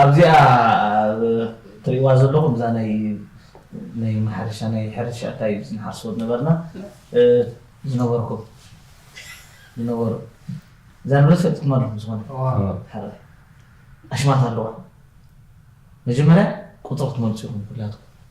ኣብዚኣ ትሪእዋ ዘለኹም እዛ ናይ ናይ ማሕረሻ ናይ ሕርሻ እንታይ ንሓርሶ ዝነበርና ዝነበርኩም ዝነበሩ እዛ ንብረት ፈልጥኩማ ኣለኹም ዝኾነ ሓደ ኣሽማት ኣለዋ መጀመርያ ቁፅሪ ክትመልፁ ኢኹም ኩላትኩም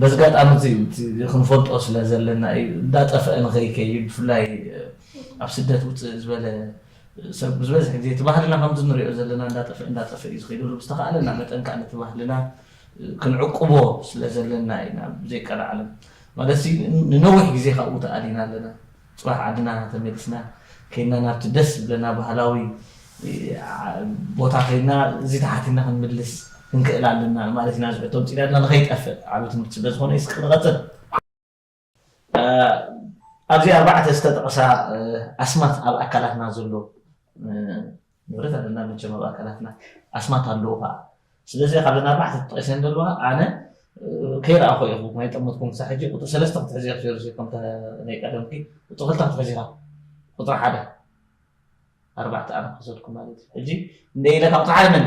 በዚ ኣጋጣሚ እዚ እቲ ክንፈልጦ ስለ ዘለና እዩ እንዳጠፈኣ ንኸይከይድ ብፍላይ ኣብ ስደት ውጽእ ዝበለ ሰብ ዝበዝሕ ግዜ እቲ ባህልና ከምዚ ንሪኦ ዘለና እንዳጠፈኣ እንዳጠፈኣ እዩ ዝኸይድ ዘሎ ብዝተኻእለና መጠን ከኣ ነቲ ባህልና ክንዕቁቦ ስለ ዘለና ኢና ብዘይቀልዓለም ማለት ንነዊሕ ግዜ ካብኡ ተኣሊና ኣለና ጽባሕ ዓድና ተመሊስና ከይድና ናብቲ ደስ ዝብለና ባህላዊ ቦታ ከይድና እዚ ተሓቲና ክንምልስ ክንክእል ኣለና ማለት ኢና ዝሕቶ ምፅኢና ድና ንከይጠፍእ ዓብ ትምህርቲ ስለ ዝኾነ ይስቅ ንቐፅል ኣብዚ ኣርባዕተ ዝተጠቐሳ ኣስማት ኣብ ኣካላትና ዘሎ ንብረት ኣለና መቸም ኣብ ኣካላትና ኣስማት ኣለዉ ከኣ ስለዚ ካብዘን ኣርባዕተ ተጠቂሰን ዘለዋ ኣነ ከይረኣኹ ኢኹ ናይ ጠመትኩም ክሳብ ሕጂ ቁፅሪ ሰለስተ ክትሕዚ ኢኹ ሸርሲ ከምተ ናይ ቀደምኪ ቁፅሪ ክልተ ክትሕዚ ኢኻ ቁፅሪ ሓደ ኣርባዕተ ኣነ ክወሰድኩም ማለት እዩ ሕጂ እንደ ኢለ ካብ ቁፅሪ ሓደ መን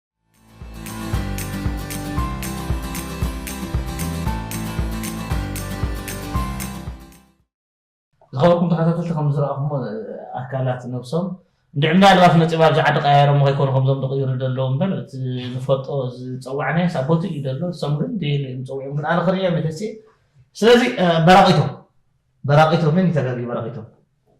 ዝኸበርኩም ተኸታተልቲ ከም ዝረኣኹሞ ኣካላት ነብሶም እንድዕ እምዳ ኣልባስ መፂባ ኣብዚ ዓዲ ቀያየሮሞ ከይኮኑ ከምዞም ዝቕይሩ ደለዉ እምበር እቲ ንፈልጦ ዝፀዋዕናዮ ሳብ ቦቱ እዩ ደሎ እሶም ግን ደየለ እዮም ፀዊዖም ግን ኣነ ክርእዮም ይደሲ ስለዚ በራቂቶ በራቂቶ ምን ተገቢ በራቂቶ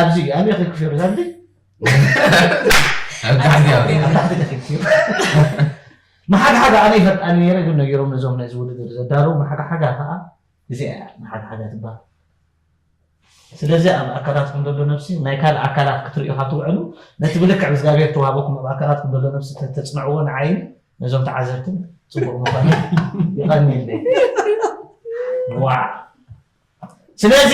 ኣብዚ ኣበይ ኬድኩ ሸርዝ ኣብዚ ኣብ ታሕቲ ኣብ ኣበይ ታሕቲ ተኺልኩ እዩ መሓግሓጋ ኣነ ይፈልጣኒ ነይረ ግን ነጊሮም ነዞም ነዚ ውድድር ዘዳለዉ መሓግሓጋ ከዓ እዚኣ እያ መሓግሓጋ ትበሃል ስለዚ ኣብ ኣካላትኩም ዘሎ ነብሲ ናይ ካልእ ኣካላት ክትርእዩ ካብ ትውዕሉ ነቲ ብልክዕ እግዚኣብሔር ተዋህበኩም ኣብ ኣካላትኩም ዘሎ ነብሲ ተፅንዕዎ ንዓይን ነዞም ተዓዘብትን ፅቡቅ ምኳኑ ይቀኒለይ ዋዕ ስለዚ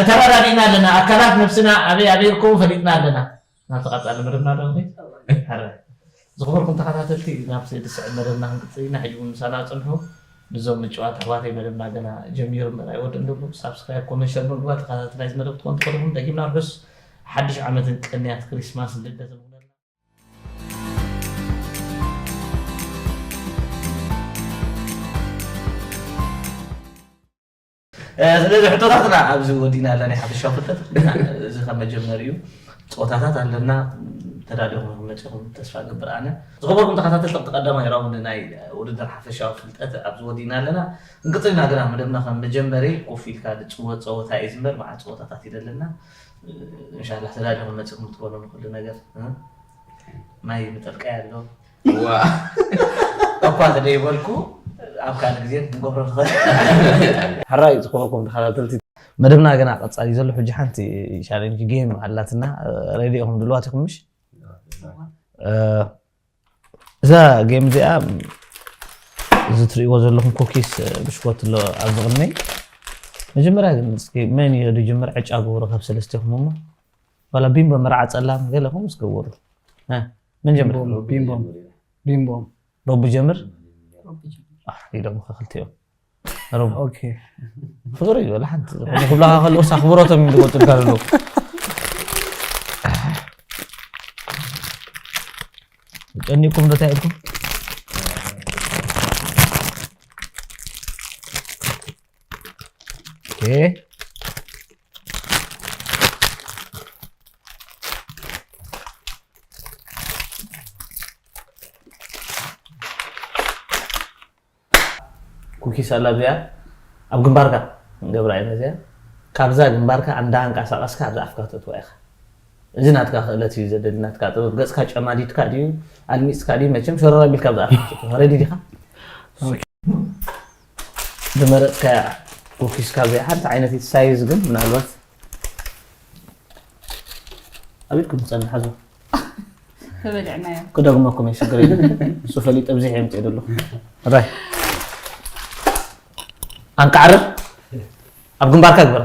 ተረዳዲእና ኣለና ኣካላት ነብስና ኣበይ ኣበይ ይርከቡ ፈሊጥና ኣለና ናብቲ ቀጻሊ መደብና ዶ ሕረ ዝኽበርኩም ተኸታተልቲ ናብ ስእሊ ስዕብ መደብና ክንቅጽል ኢና ሕጂ እውን ምሳና ጽንሑ ንዞም ምጭዋት ኣሕዋተይ መደብና ገና ጀሚሩ ምበር ኣይወድእን ደሎ ሳብስክራይብ ኮመንት ሸር ምግባር ተኸታተልቲ ናይዚ መደብ ክትኮኑ ትኽእልኹም ደጊምና ርሑስ ሓድሽ ዓመትን ቅንያት ክሪስማስን ልደትን ስለዚ ሕቶታትና ኣብዚ ወዲና ኣለና ሓፈሻ ፍልጠት እዚ ከም መጀመሪ እዩ ፀወታታት ኣለና ተዳሊኹም ክመፅኹም ተስፋ ገብር ኣነ ዝኸበርኩም ተኸታተልቲ ቀዳማይ ራውንድ ናይ ውድድር ሓፈሻዊ ፍልጠት ኣብዚ ወዲና ኣለና እንቅፅልና ግና መደብና ከም መጀመሪ ኮፍ ኢልካ ዝፅወት ፀወታ እዩ ዝምበር መዓት ፀወታታት ይደለና እንሻላህ ተዳሊኹም መፂኹም ትበሉ ንኩሉ ነገር ማይ ምጠልቀይ ኣሎ እኳ ተደይበልኩ ኣብ ካልእ ግዜ ክንገብሮ ንኽእል ሕራይ ዝኾንኩም ተኸታተልቲ መደብና ገና ቀፃሊ ዘሎ ሕጂ ሓንቲ ቻሌንጅ ጌም ኣላትና ሬድዮኹም ድልዋት ኢኹም ምሽ እዛ ጌም እዚኣ እዚ ትርእይዎ ዘለኹም ኩኪስ ብሽኮት ኣሎ ኣብዚ ቅድመይ መጀመርያ ግን እስኪ መን እዩ ዝጅምር ዕጫ ግብሩ ካብ ሰለስቲኹም እሞ ዋላ ቢምቦ መርዓ ጸላም ገለ ከምኡ ዝገብሩ መን ጀምር ቢምቦ ጀምር ኢሎምካ ክልቲኦም ፍቅሪ እዩ ሓንቲ ክብላካ ከለዎ ኣኽብሮቶም እዩ ዝቆፅልካ ዘሎ ጨኒቅኩም ዶ እንታይ ኢልኩም ኩኪስ ኣላ እዚኣ ኣብ ግንባርካ ክንገብራ ኢና እዚኣ ካብዛ ግንባርካ ኣንዳ ኣንቃሳቀስካ ኣብዛ ኣፍካ ክተእትዋ ኢካ እዚ ናትካ ክእለት እዩ ዘደሊ ናትካ ጥበብ ገጽካ ጨማዲድካ ድዩ ኣልሚጽካ ድዩ መቸም ሸረር ኣቢልካ ኣብዛ ኣፍካ ክትእትዋ ረዲ ዲካ ዝመረጽካያ ኩኪስ ካብዚኣ ሓንቲ ዓይነት እዩ ሳይዝ ግን ምናልባት ኣብ ኢድኩም ትጸንሕ ሓዝዋ ተበሊዕናዮ ክደግመኩም እየ ሽግር የለን ንሱ ፈሊጠ ብዚሕ የምፅእ ደሎ ራይ ኣንቃዕርር ኣብ ግንባርካ ግበራ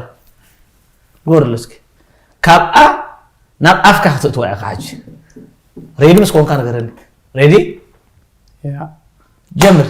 ግበርሉ እስኪ ካብኣ ናብ ኣፍካ ክትእትዋ ኢኻ ሓጂ ሬዲ ምስ ኮንካ ነገረኒ ሬዲ ጀምር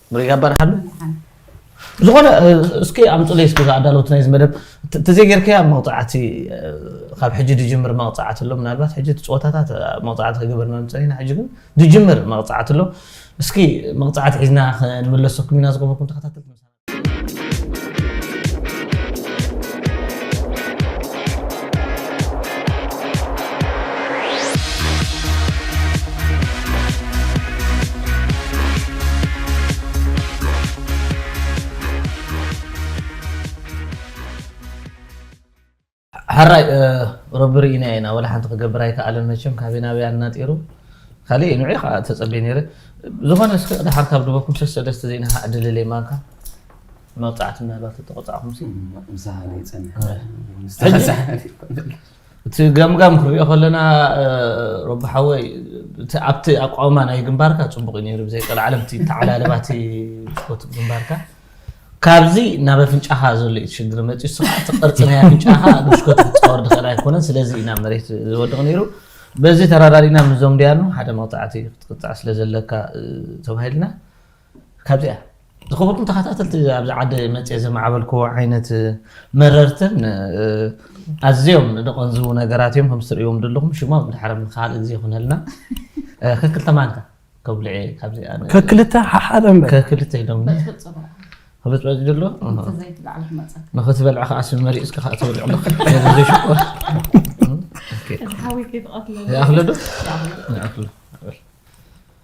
ብሪጋ በርሃሉ ዝኾነ እስኪ ኣምፅለይ እስኪ ዝኣዳለውት ናይዚ መደብ ተዘይጌርካያ መቕፃዕቲ ካብ ሕጂ ድጅምር መቕፃዕቲ ኣሎ ምናልባት ሕጂ ፀወታታት መቕፃዕቲ ክግበር መምፅእ ኢና ሕጂ ግን ድጅምር መቕፃዕቲ ኣሎ እስኪ መቕፃዕቲ ሒዝና ክንምለሰኩም ኢና ዝገበርኩም ተኸታተልቲ ሓራይ ረቢ ርኢና ኢና ወላ ሓንቲ ክገብር ኣይከኣለን መቸም ካበይ ናበይ ኣናጢሩ ካልእ ንዕ ከዓ ተፀበ ነይረ ዝኾነ እስከ ድሓር ካብ ድበኩም ሰሰደስተ ዘይናካ ዕድልለይ ማንካ መቕጻዕቲ ምናልባት ተተቐጻዕኹምሲ ምሳና ይጸንሕ እቲ ገምጋም ክንሪኦ ከለና ረቢ ሓወይ ኣብቲ ኣቋውማ ናይ ግንባርካ ፅቡቅ እዩ ነይሩ ብዘይቀል ዓለም እቲ ተዓላለባ እቲ ስፖት ግንባርካ ካብዚ ናብ ኣፍንጫኻ ዘሎ እዩ ትሽግር መፅኡ ስኻ እቲ ቅርፂ ናይ ኣፍንጫኻ ብሽኮት ክፃወር ድኽእል ኣይኮነን ስለዚ ኢና መሬት ዝወድቕ ነይሩ በዚ ተራዳሪና ምዞም ድያኑ ሓደ መቕፃዕቲ ክትቅፃዕ ስለ ዘለካ ተባሂልና ካብዚኣ ዝኸበርኩም ተኸታተልቲ ኣብዚ ዓዲ መፅየ ዘማዕበልክዎ ዓይነት መረርትን ኣዝዮም ደቐንዝቡ ነገራት እዮም ከምዚ ትርእዎም ዘለኹም ሽሞም ድሕሪ ንካልእ ግዜ ይኹነልና ከክልተ ማንካ ከብልዕ እየ ካብዚኣ ከክልተ ሓሓደ እምበር ከክልተ ኢሎም ክበፅበፅ ዘሎ ንክትበልዕ ከዓ ስም መሪፅካ ከዓ ትበልዕ ኣለካ ዘይሽኮር ይኣኽለዶ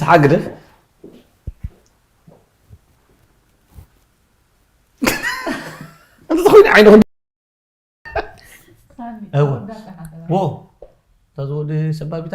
ሰሓቅ ግደፍ እንተኾይኑ ዓይንኹም እወ ወ ተዝወዲ ሰባቢታ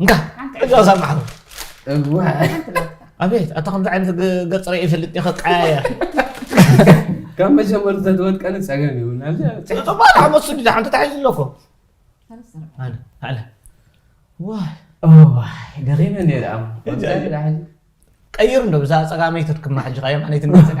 እንካ ሕጂ ኣዛ ማሕሩ ኣቤት ኣታ ከምዚ ዓይነት ገፅ ርኢ ይፈልጥ እየ ከቀያየር ካብ መጀመሩ ተትወድቀኒ ፀገም ይብላ ፅባል ዓመት ስዲ ሓንቲ ተሓይዙ ኣለኮ ኣነ ኣነ ዋይ ደኺመ ነይረ ቀይሩ እንዶ ብዛ ፀጋመይ ተትክማ ሕጂ ኸ የማነይት እንዶ ፀጋ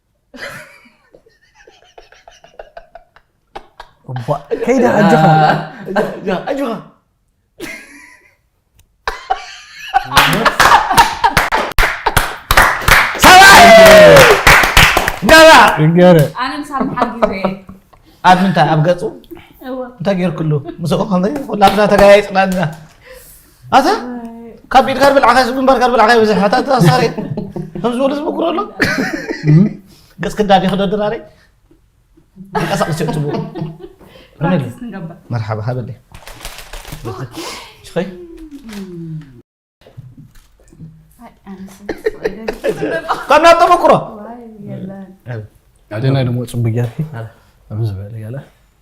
እባ ከይደ ኣጆኻ ኣጆኻ ይገረ ኣነ ምሳብ ሓድ ግዜ ኣብ ምንታይ ኣብ ገፁ እወ እንታይ ጌርክሉ ምስኡ ከምዚ ኩላትና ተጋያይፅና ኣለና ኣታ ካብ ኢድካ ብልዕካ ግንባርካ ብልዕካ ይብዝሕ ኣታ ተሳሪ ከም ዝበሉ ዝምክሮ ኣሎ ገጽ ክዳድ ይክዶ ድራሪ ይንቀሳቅስ እዩ ትብሉ ፕራክቲስ ንገብር መርሓባ ሃበለይ ሽኸይ ከምና ተመክሮ ኣደና ደሞ ፅቡቅ ጌርኪ ኣብ ዝበለ ገለ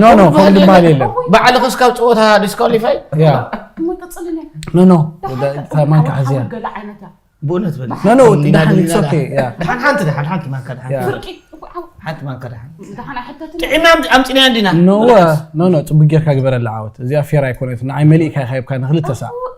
ኖ ኖ ከምኡ ዝበሃል የለን ባዕልኺ እስካብ ፀወታ ዲስኳሊፋይ ያ ኖ ኖ ማንካ ሓዝያ ብእውነት በል ኖ ኖ ድሓን ኢትስ ኦኬ ያ ድሓን ሓንቲ ድሓን ሓንቲ ማንካ ድሓን ያ ሓንቲ ማንካ ድሓን ጥዒና ኣምፂና እንዲና ኖ ኖ ኖ ፅቡቅ ጌርካ ግበረላ ዓወት እዚኣ ፌር ኣይኮነትን ንዓይ መሊእካ ኢኻ ሂብካ ንክልተ ሳዕ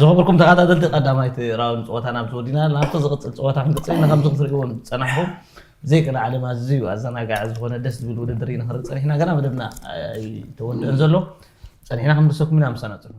ዝኸበርኩም ተኸታተልቲ ቀዳማይቲ ራውንድ ፀወታና ኣብዚ ወዲና ናብቲ ዝቕፅል ፀወታ ክንቅፅል ኢና ከምዚ ክትሪእዎ ዝፀናሕኩም ዘይቅነ ዓለም ኣዝዩ ኣዘናጋዒ ዝኾነ ደስ ዝብል ውድድር ኢና ክንርኢ ፀኒሕና ገና መደብና ኣይተወድአን ዘሎ ፀኒሕና ክንምልሰኩም ኢና ምሳና ፅንሑ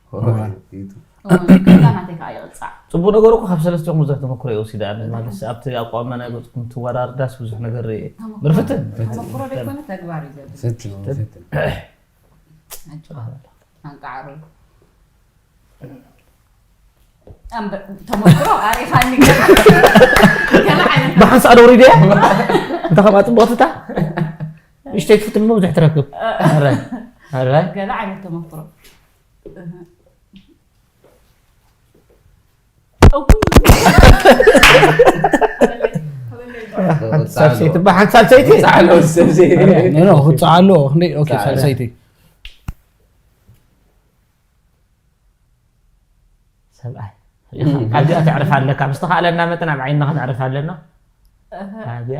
ፅቡቅ ነገሩ እኮ ካብ ሰለስቲኦም ብዙሕ ተመክሮ እየ ወሲደ ኣነ ማለት ኣብቲ ኣቋም ናይ ገፅኩም ትወራርዳስ ብዙሕ ነገር እየ ምርፍትን ብሓንሳእ ደውሪደ እንተ ከምኣ ፅቡቅትታ ንእሽተይ ትፍትን ብዙሕ ትረክብ ገለ ዓይነት ተመክሮ ሳልሰይቲ እባ ሓንቲ ሳልሰይቲ ፃዕሎ ሰብ ዘይ ኖ ክፀዓሎ ክንደይ ኦኬ ፀዓሎ። ሳልሰይቲ ሰብኣይ ካብዚኣ ተዕርፍ ኣለካ ምስ ተኻእለና መጠን ኣብ ዓይንና ከነዕርፍ ኣለና ኣብያ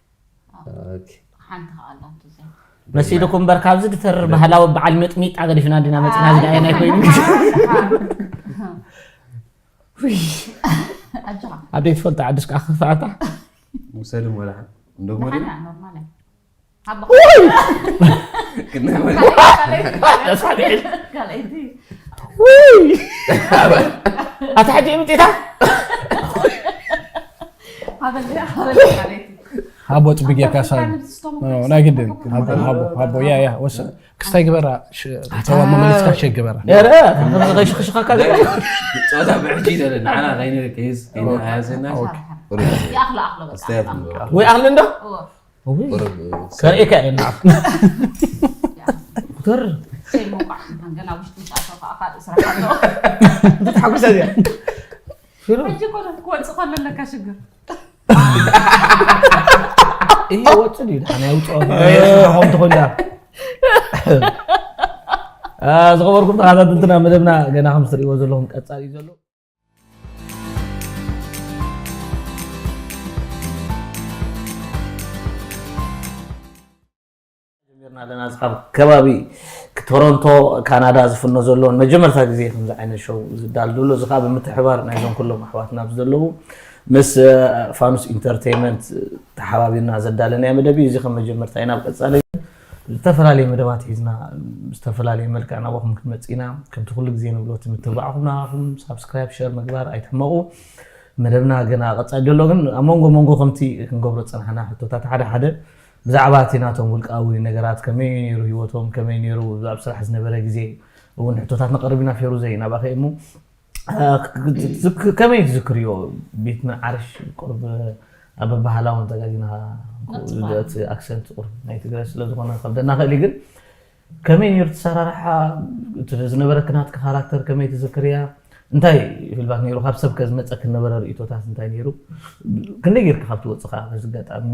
ሓንቲ ከኣ ኣላቶ እዚኣ መሲልኩ እምበር ካብዚ ድተርር ባህላዊ በዓል ምጥሚጣ ገዲፍና ድና መፅና እዚ ደኣ ናይ ኮይኑ ኣጆኻ ኣደይ ትፈልጣ ዓድስ ከዓ ክፋኣታ ውሰድ ወላ እንደሞ ደሓና ኖርማል እያ ሃቦ ክንወል ካልኣይቲ ኣታ ሕጂ ምጢታ ሃቦ ፅቢ ጌርካ ሳ ናይ ግድን ሃቦ ሃቦ ሃቦ ያ ያ ወስ ክስታይ ግበራ ተዋ መመሊስካ ሸግ ግበራ ኧረ ከምዚ ከይሽክሽኸካ ዘለ ፀወታ ብሕጂ ይደለ ንዓና ከይነ ከይዝ ከይነ ሃያዘና ወይ ኣኽሊ እንዶ ከርእየካ እየ ንዓኹም ገርም ተሓጉሰ እዚኣ እዩ ወፅ ድዩ ድሓን ኣይውፅኦ ንዓኹም ትኾን እያ ዝኸበርኩም ተኸታተልትና መደብና ገና ከም ትሪእዎ ዘለኹም ቀፃሊ እዩ ዘሎ ጀሚርና ኣለና እዚ ካብ ከባቢ ቶሮንቶ ካናዳ ዝፍኖ ዘሎ መጀመርታ ግዜ ከምዚ ዓይነት ሸው ዝዳል ዘሎ እዚ ከዓ ብምትሕባር ናይዞም ኩሎም ኣሕዋትና ዘለዉ ምስ ፋኑስ ኢንተርቴይመንት ተሓባቢርና ዘዳለናዮ መደብ እዩ እዚ ከም መጀመርታ እዩ ናብ ቀፃሊ ዝተፈላለየ መደባት ሒዝና ዝተፈላለየ መልክዕ ናባኹም ክንመፅእ ኢና ከምቲ ኩሉ ግዜ ንብሎ እቲ ምትብባዕኹም ናባኹም ሳብስክራይብ ሸር ምግባር ኣይትሕመቑ መደብና ገና ቀፃሊ ዘሎ ግን ኣብ መንጎ መንጎ ከምቲ ክንገብሮ ዝፀናሕና ሕቶታት ሓደ ሓደ ብዛዕባ እቲ ናቶም ውልቃዊ ነገራት ከመይ ነይሩ ሂወቶም ከመይ ነይሩ ኣብ ስራሕ ዝነበረ ግዜ እውን ሕቶታት ነቐርብ ኢና ፌሩዘይ ናባኸ እሞ ከመይ ትዝክርዮ ቤት ምንዓርሽ ቁርብ ኣብ ባህላዊ ተጋጊና እቲ ኣክሰንት ቁርብ ናይ ትግረ ስለዝኾነ ከብደና ክእል ግን ከመይ ነይሩ ትሰራርሓ ዝነበረ ክናትካ ካራክተር ከመይ ትዝክርያ እንታይ ህልባት ነይሩ ካብ ሰብ ከዝመፀ ክነበረ ርእቶታት እንታይ ነይሩ ክንደይ ጌርካ ካብ ትወፅኻ በዚ ኣጋጣሚ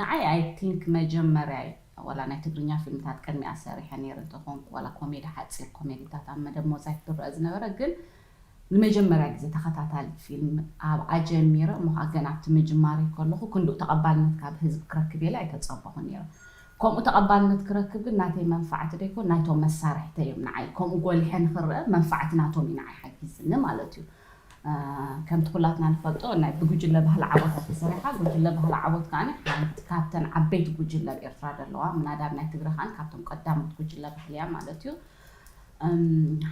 ንዓይ ኣይ ቲንክ መጀመርያይ ዋላ ናይ ትግርኛ ፊልምታት ቅድሚኣ ሰሪሐ ነይረ እንተኾንኩ ዋላ ኮሜዲ ሓጺር ኮሜዲታት ኣብ መደብ ሞዛይክ ዝረኣ ዝነበረ ግን ንመጀመርያ ግዜ ተኸታታሊት ፊልም ኣብ ኣጀሚረ እሞ ከኣ ገና ኣብቲ ምጅማረይ ከለኹ ክንድኡ ተቐባልነት ካብ ህዝቢ ክረክብ ኢለ ኣይተጸበኹን ነይረ ከምኡ ተቐባልነት ክረክብ ግን ናተይ መንፋዕቲ ደይኮን ናይቶም መሳርሕተይ እዮም ንዓይ ከምኡ ጎሊሐ ንኽረኣ መንፋዕቲ ናቶም እዩ ንዓይ ሓጊዝኒ ማለት እዩ ከምቲ ኩላትና ንፈልጦ ናይ ብጉጅለ ባህሊ ዓወታት ተሰሪሓ። ጉጅለ ባህሊ ዓወት ከኣ ሓንቲ ካብተን ዓበይቲ ጉጅለ ኣብ ኤርትራ ዘለዋ፣ ምናዳ ኣብ ናይ ትግረ ከኣ ካብቶም ቀዳሞት ጉጅለ ባህሊ እያ ማለት እዩ።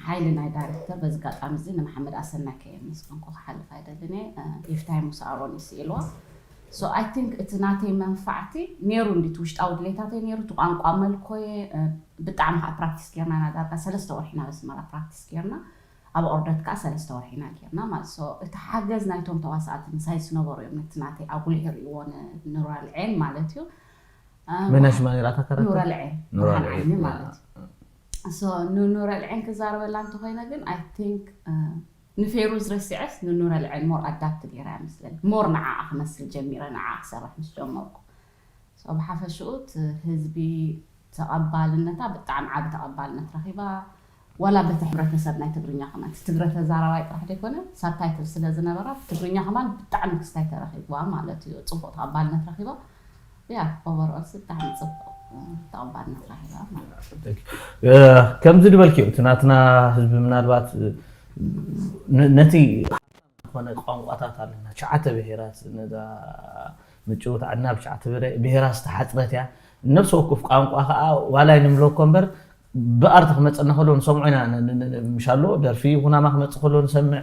ሓይሊ ናይ ዳይረክተር በዚ ኣጋጣሚ እዚ ንመሓመድ ኣሰናይ ከየመስገንኩ ክሓልፍ ኣይደልን እየ። ይፍታይ ሙሳ ኣሮን እዩ ስኢልዋ። ሶ ኣይ ቲንክ እቲ ናተይ መንፋዕቲ ነይሩ እንድዩ፣ እቲ ውሽጣዊ ድሌታተይ ነይሩ፣ እቲ ቋንቋ መልኮየ ብጣዕሚ ከኣ ፕራክቲስ ጌርና ኢና ዳርጋ ሰለስተ ወርሒ ናብ ኣስመራ ፕራክቲስ ጌርና። ኣብ ኦርደት ከኣ ሰለስተ ወርሒ ኢና ጌርና ማለት ሶ እቲ ሓገዝ ናይቶም ተዋሳእቲ ምሳይ ዝነበሩ እዮም ነቲ ናተይ ኣጉሊሁ ሪእዎ ንኑራል ዔን ማለት እዩ መን ሽማ ኔራ እታ ካራክተር ኑራል ዔን ኑራል ብርሃን ዔን ዐይኒ ያ ማለት እዩ ሶ ንኑራል ዔን ክዛረበላ እንተኾይነ ግን ኣይ ቲንክ ንፌሩዝ ረሲዐስ ንኑራል ዔን ሞር ኣዳፕት ጌረያ መስለኒ ሞር ንዓኣ ክመስል ጀሚረ ንዓኣ ክሰርሕ ምስ ጀመርኩ ሶ ብሓፈሽኡ እቲ ህዝቢ ተቐባልነታ ብጣዕሚ ዓቢ ተቐባልነት ረኺባ ዋላ በቲ ሕብረተሰብ ናይ ትግርኛ ከማን እቲ ትግረ ተዛራባይ ጥራሕ ደይኮነ ሳብታይትል ስለ ዝነበራ ብትግርኛ ከማን ብጣዕሚ ክስታይ ተረኺብዋ ማለት እዩ ጽቡቕ ተቐባልነት ረኺባ ያ ኦቨር ኦልሲ ብጣዕሚ ጽቡቕ ተቐባልነት ረኺባ ማለት ከምዚ ድበልክዮ እቲ ናትና ህዝቢ ምናልባት ነቲ ዝኾነ ቋንቋታት ኣለና ትሽዓተ ብሄራት ነዛ ምጭውት ዓድና ብትሽዓተ ብሄራት ዝተሓጽረት እያ ነፍሲ ወክፍ ቋንቋ ከኣ ዋላ ይንብሎ እኮ እምበር ብኣርት ክመጸና ከሎ ንሰምዖ ኢና ምሻሎ ደርፊ ኩናማ ክመጽእ ከሎ ንሰምዕ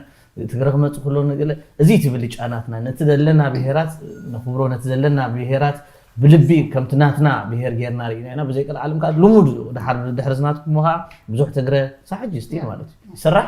ትግረ ክመጽእ ከሎ ንግለ እዚ እቲ ብልጫናትና ነቲ ዘለና ብሄራት ነኽብሮ ነቲ ዘለና ብሄራት ብልቢ ከምቲ ናትና ብሄር ጌርና ርኢና ኢና ብዘይ ቀልዓለም ከዓ ልሙድ ድሓር ድሕሪ ዝናትኩም ከዓ ብዙሕ ትግረ ሳሕጂ ስቲል ማለት እዩ ይስራሕ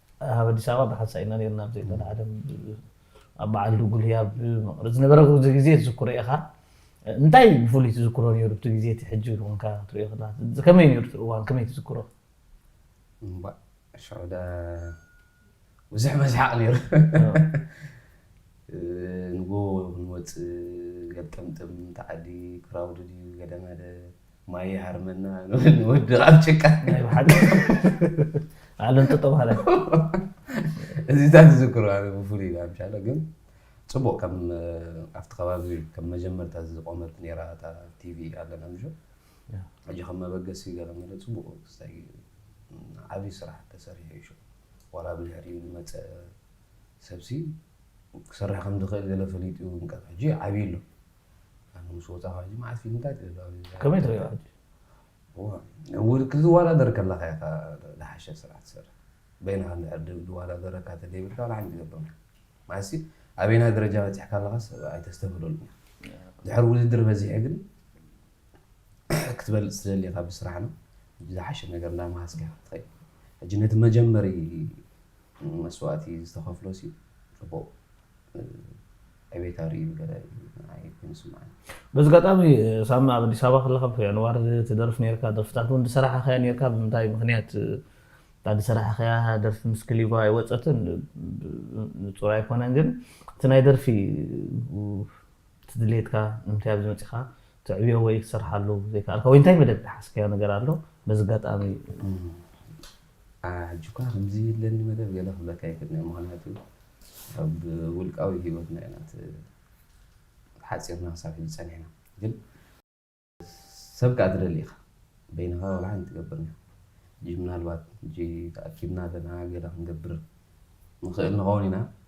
ኣብ ኣዲስ ኣበባ ብሓንሳእ ኢና ነርና ኣብ ዘይኮነ ዓለም ኣብ በዓል ድጉልያ ኣብ መቐለ ዝነበረ ግዜ ትዝክሮ ኢኻ እንታይ ብፍሉይ ትዝክሮ ነይሩ እቲ ግዜ እቲ ሕጂ ኮንካ ትሪኦ ከለካ ከመይ ነይሩ እቲ እዋን ከመይ ትዝክሮ እምባእ ሽዑ ዳ ብዙሕ መስሓቕ ነይሩ ንጎ ንወፅእ ገልጠምጥም ተዓዲ ክራውድድ እዩ ገለ መለ ማይ ይሃርመና ንወድቕ ኣብ ጭቃ ናይ ብሓቂ ዓለም ጥጦ ማለት እዚታት ዝዝክሮ ኣነ ብፍሉይ ኢላ ምሻለ ግን ፅቡቅ ከም ኣብቲ ከባቢ ከም መጀመርታ ዝቆመት ነራ እታ ቲቪ ኣለና ምሾ ሕጂ ከም መበገሲ ገለ መለ ፅቡቅ ክስታይ ዓብዪ ስራሕ ተሰሪሑ እዩ ዋላ ብድሕሪኡ ዝመፀ ሰብሲ ክሰርሕ ከም ዝኽእል ገለ ፈሊጡ እዩ እምበር ሕጂ ዓብዪ ኣሎ ምስ ወፃኻ ሕጂ መዓስ ፊልም እንታይ ትብል ከመይ ትሪኦ ሕጂ ክትዋዳደር ከለካ ኢኻ ዝሓሸ ስራሕ ትሰርሕ በይንኻ እንድሕር ዝዋዳደረካ ተዘይብልካ ዋላ ሓንቲ ትገብር ማለትሲ ኣበይና ደረጃ በፂሕካ ኣለካ ሰብ ኣይተስተብህለሉ ድሕር ውድድር በዚሐ ግን ክትበልፅ ትደሊ ኢኻ ብስራሕ ነው ዝሓሸ ነገር እንዳመሃዝካ ኢኻ ትኸይድ ሕጂ ነቲ መጀመሪ መስዋእቲ ዝተኸፍሎ ሲ ፅቡቅ ዕቤት ኣርእዩ ገለ ኣይኮን ዝስምዓኒ። በዚ ኣጋጣሚ ሳሚ ኣብ ኣዲስ ኣበባ ከለካ ብ ኣንዋር ትደርፍ ኔርካ ደርፍታት ውን ዝሰራሓካያ ኔርካ ብምንታይ ምክንያት እታ ዝሰራሓካያ ደርፊ ምስ ክሊባ ኣይወጸትን ንጹር ኣይኮነን ግን እቲ ናይ ደርፊ እቲ ድሌትካ ንምንታይ ኣብዚ መጺካ ተዕብዮ ወይ ክትሰርሓሉ ዘይከኣልካ ወይ እንታይ መደብ ዝሓዝካዮ ነገር ኣሎ በዚ ኣጋጣሚ ኣነ ሕጂ እኳ ከምዚ ኣለኒ መደብ ገለ ክብለካ ኣይክእልን'የ ምኽንያቱ ኣብ ውልቃዊ ሂወትና ኢና ተሓጺርና ክሳብ ሕጂ ጸኒሕና ግን ሰብ ከኣ ትደሊ ኢኻ በይንኻ ዋላ ሓንቲ ትገብርን ኢኻ ሕጂ ምናልባት ሕጂ ተኣኪብና ኣለና ገለ ክንገብር ንኽእል ንኸውን ኢና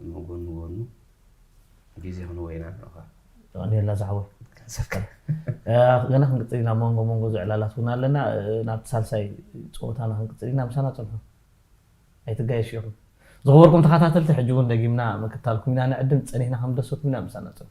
እሞ ጎኑ ጎኑ ግዜ ክንወይና ኣሎኻ። የቐንየልና ዝሓወይ ክንሰከም ገና ክንቅፅል ኢና መንጎ መንጎ ዝዕላላት እውን ኣለና ናብቲ ሳልሳይ ፀወታና ክንቅፅል ኢና ምሳና ፀንሑ ኣይትጋየሽ ኢኹም ዝኽበርኩም ተኸታተልቲ ሕጂ እውን ደጊምና ምክታልኩም ኢና ንዕድም ፀኒሕና ከም ደሰኩም ኢና ምሳና ፀንሑ